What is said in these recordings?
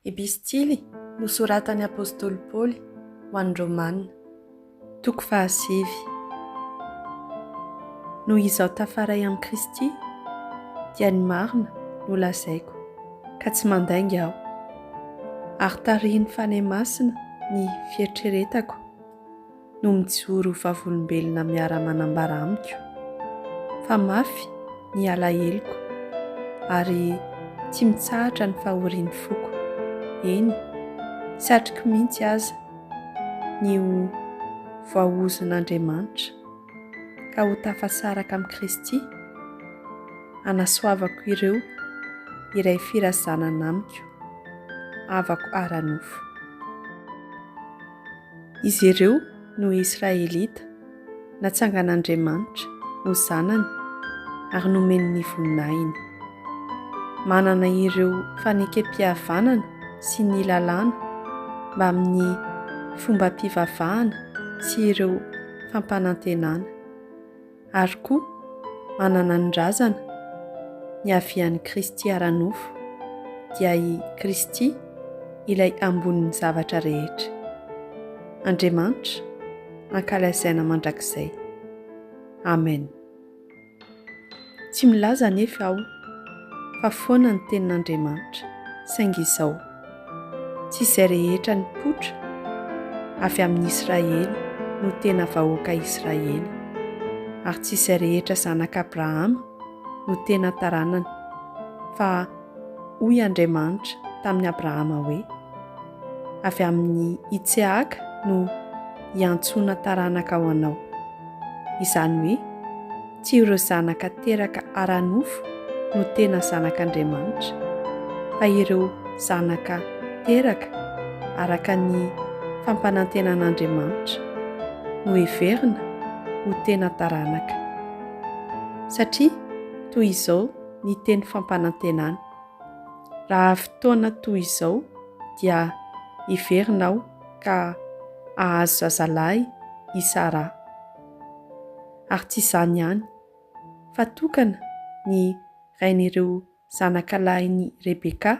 Epistily nosoratan'ny apostoly Paoly ho an'ny Romana. Toko fahasivy. Noho izaho tafaray amin'i Kristy, dia ny marina no lazaiko, ka tsy mandainga aho. Ary tarihin'ny Fanahy Masina ny fieritreretako. no mijoro ho vavolombelona miara-manambara amiko fa mafy ny alaheloko ary tsy mitsahatra ny fahorian'ny foko, eny, satriko mihitsy aza ny ho voaozon'Andriamanitra ka ho tafasaraka amin'i Kristy hanasoavako ireo iray firazanana amiko, havako ara-nofo. Izy ireo no Israelita natsangan'Andriamanitra ho zanany ary nomeny ny voninahiny. Manana ireo fanekempihavanana sy ny Lalàna mbamin'ny fombam-pivavahana sy ireo fampanantenana. Ary koa, manana ny razana, niavian'i Kristy ara-nofo, dia i Kristy ilay ambonin'ny zavatra rehetra. Andriamanitra, ankalazaina mandrakizay. Amen. Tsy milaza anefa aho fa foana ny Tenin'Andriamanitra, saingy izao, Tsy izay rehetra nipoitra avy amin'ny Israely no tena vahoaka Israely, ary tsy izay rehetra zanak'Abrahama no tena taranany, fa hoy Andriamanitra tamin'i Abrahama hoe, Avy amin'i Itseaka no hiantsoana taranaka ho anao, izany hoe, Tsy ireo zanaka teraka ara-nofo no tena zanak'Andriamanitra, fa ireo zanaka teraka araka ny fampanantenan'Andriamanitra no heverina ho tena taranaka, satria toy izao ny teny fampanantenany, Raha avy taona toy izao dia hiverina aho ka hahazo zazalahy i Saraha. ary tsy izany ihany, fa tokana ny rain'ireo zanaka lahin'i Rebeka,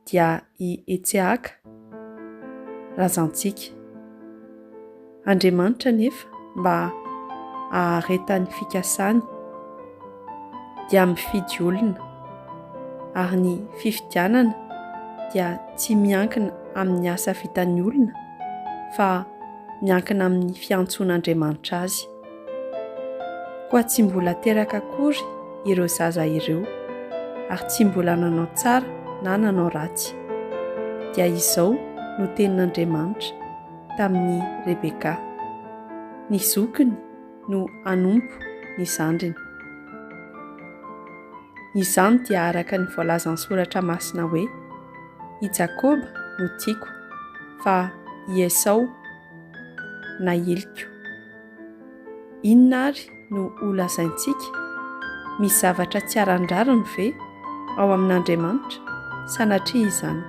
dia i Etsehaka, razantsika. Andriamanitra anefa mba haharetan'ny fikasany. dia mifidy olona, ary ny fifidianana dia tsy miankina amin'ny asa vitan'ny olona fa miankina amin'ny fiantsoan'Andriamanitra azy. Koa tsy mbola teraka akory ireo zaza ireo, ary tsy mbola nanao tsara na nanao ratsy. Dia izao no tenin'Andriamanitra tamin'i Rebeka. Ny zokiny no hanompo ny zandriny. Izany dia araka ny voalazan'ny soratra masina hoe, I Jakoba no tiako, fa i Esao na iliko. Inona ary no ho lazaintsika? Misy zavatra tsy aran-drariny ve ao amin'Andriamanitra? Sanatria izany.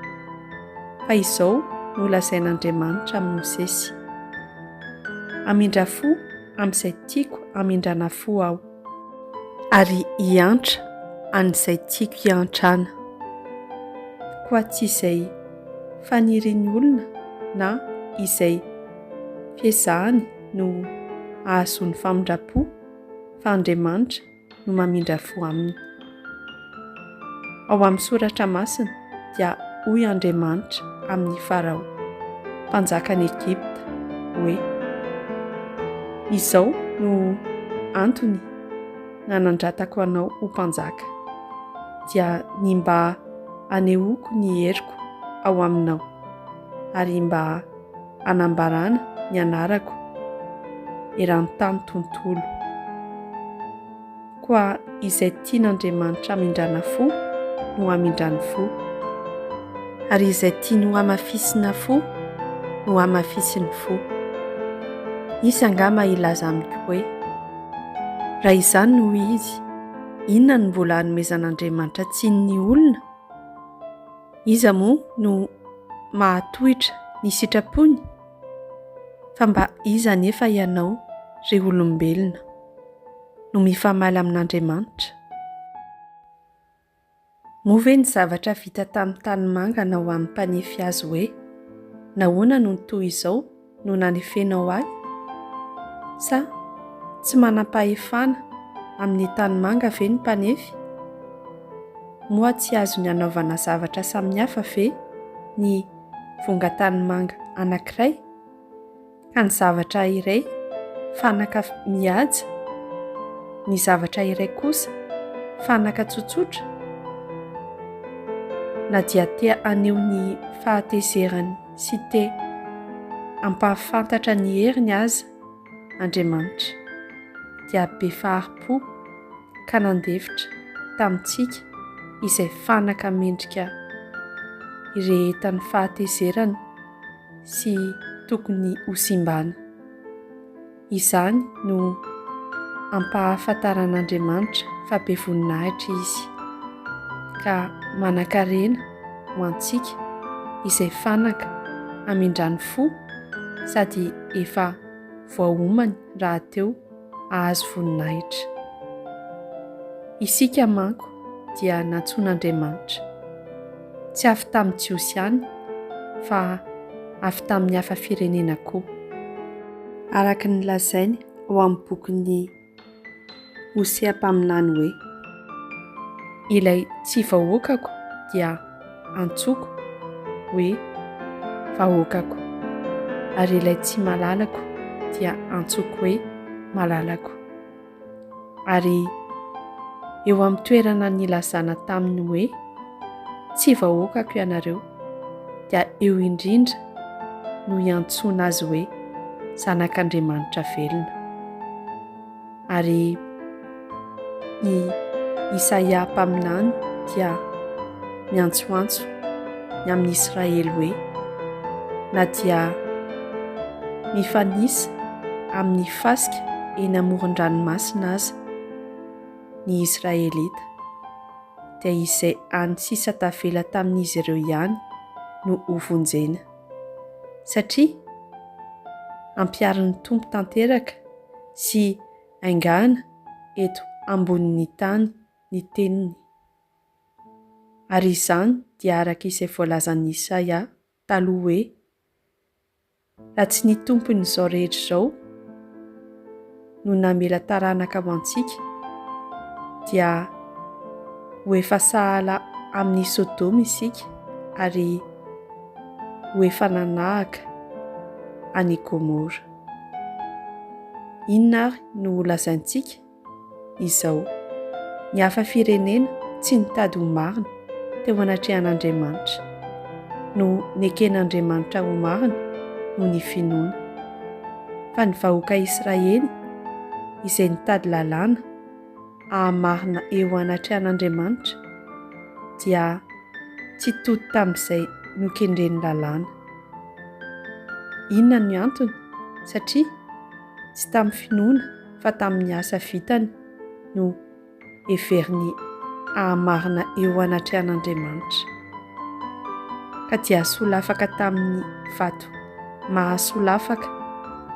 Fa izao no lazain'Andriamanitra amin'i Mosesy. Hamindra fo amin'izay tiako hamindrana fo aho. Ary hiantra an'izay tiako hiantrana. Koa tsy izay fanirian'ny olona na izay fiezahany no hahazoany famindram-po fa Andriamanitra no mamindra fo aminy. Ao amin'ny soratra masina dia hoy Andriamanitra amin'i Farao, mpanjakan'i Egypta, hoe, Izao no antony nanandratako anao ho mpanjaka, dia ny mba hanehoako ny heriko ao aminao, ary mba hanambarana ny anarako eran-tany tontolo. Koa izay tian'Andriamanitra hamindrana fo no hamindrany fo, ary izay tiany hohamafisina fo no hamafisiny fo. Hisy angaha maha hilaza amiko hoe, Raha izany no izy, inona no mbola hanomezan'Andriamanitra tsiny ny olona? Iza moa no mahatohitra ny sitrapony? Fa mba iza anefa ianao, ry olombelona, no mifamaly amin'Andriamanitra? Moa ve ny zavatra vita tamin'ny tanimanga na ho an'ny mpanefy azy hoe, Nahoana no toa izao? no nanefenao ahy? Sa tsy manam-pahefana amin'ny tanimanga ve ny mpanefy? Moa tsy azony anaovana zavatra samihafa ve ny vongan-tanimanga anankiray ka ny zavatra iray fanaka mihaja, ny zavatra iray kosa fanaka tsotsotra? Na dia te haneho ny fahatezeran'ny sy te hampahafantatra ny heriny aza Andriamanitra, dia be fahari-po ka nandefitra tamintsika izay fanaka mendrika irehetan'ny fahatezerana sy tokony hosimbana. Izany no ampahafantaran'Andriamanitra fa be voninahitra Izy, ka manan-karena ho antsika izay fanaka hamindran'ny fo sady efa voaomany rahateo hahazo voninahitra. Isika manko dia nantsoin'Andriamanitra, tsy avy tamin'ny Jiosy ihany fa avy tamin'ny hafa firenena koa. araka ny lazainy ao amin'ny bokin'ny Hosea mpaminany hoe. Ilay tsy vahoakako dia antsoiko hoe vahoakako, ary ilay tsy malalako dia antsoiko hoe malalako. Ary eo amin'ny toerana nilazana taminy hoe, Tsy vahoakako ianareo, dia eo indrindra no hiantsoana azy hoe Zanak'Andriamanitra velona. Ary i Isaia mpaminany dia miantsoantso ny amin'ny Israely hoe, Na dia mifanisa amin'ny fasika eny amoron-dranomasina aza ny Israelita, dia izay any sisa tavela tamin'izy ireo ihany no hovonjena, satria ampiharin'ny Tompo tanteraka sy haingana eto ambonin'ny tany ny teniny. Ary izany dia araka izay voalazan'i Isaia taloha hoe, Raha tsy ny Tompon'izao rehetra izao no namela taranaka ho antsika, dia ho efa sahala amin'i Sodoma isika ary ho efa nanahaka an'i Gomora. Inona àry no ho lazaintsika? izao, Ny hafa firenena tsy nitady ho marina teo anatrehan'Andriamanitra, no neken'Andriamanitra ho marina noho ny finoana. Fa ny vahoaka Israely, izay nitady lalàna haha-marina eo anatrehan'Andriamanitra, dia tsy tody tamin'izay nokendren'ny lalàna. Inona ny antony? Satria. tsy tamin'ny finoana fa tamin'ny asa vitany no heveriny hahamarina eo anatrehan'Andriamanitra. Ka dia solafaka tamin'ny vato mahasolafaka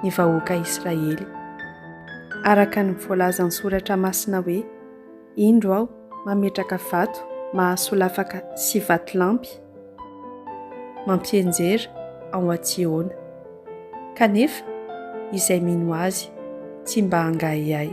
ny vahoaka Israely. Araka ny voalazan'ny Soratra Masina hoe. Indro aho mametraka vato mahasolafaka sy vatolampy mampianjera ao an-Tsiôna, kanefa izay mino azy tsy mba hangahiahy.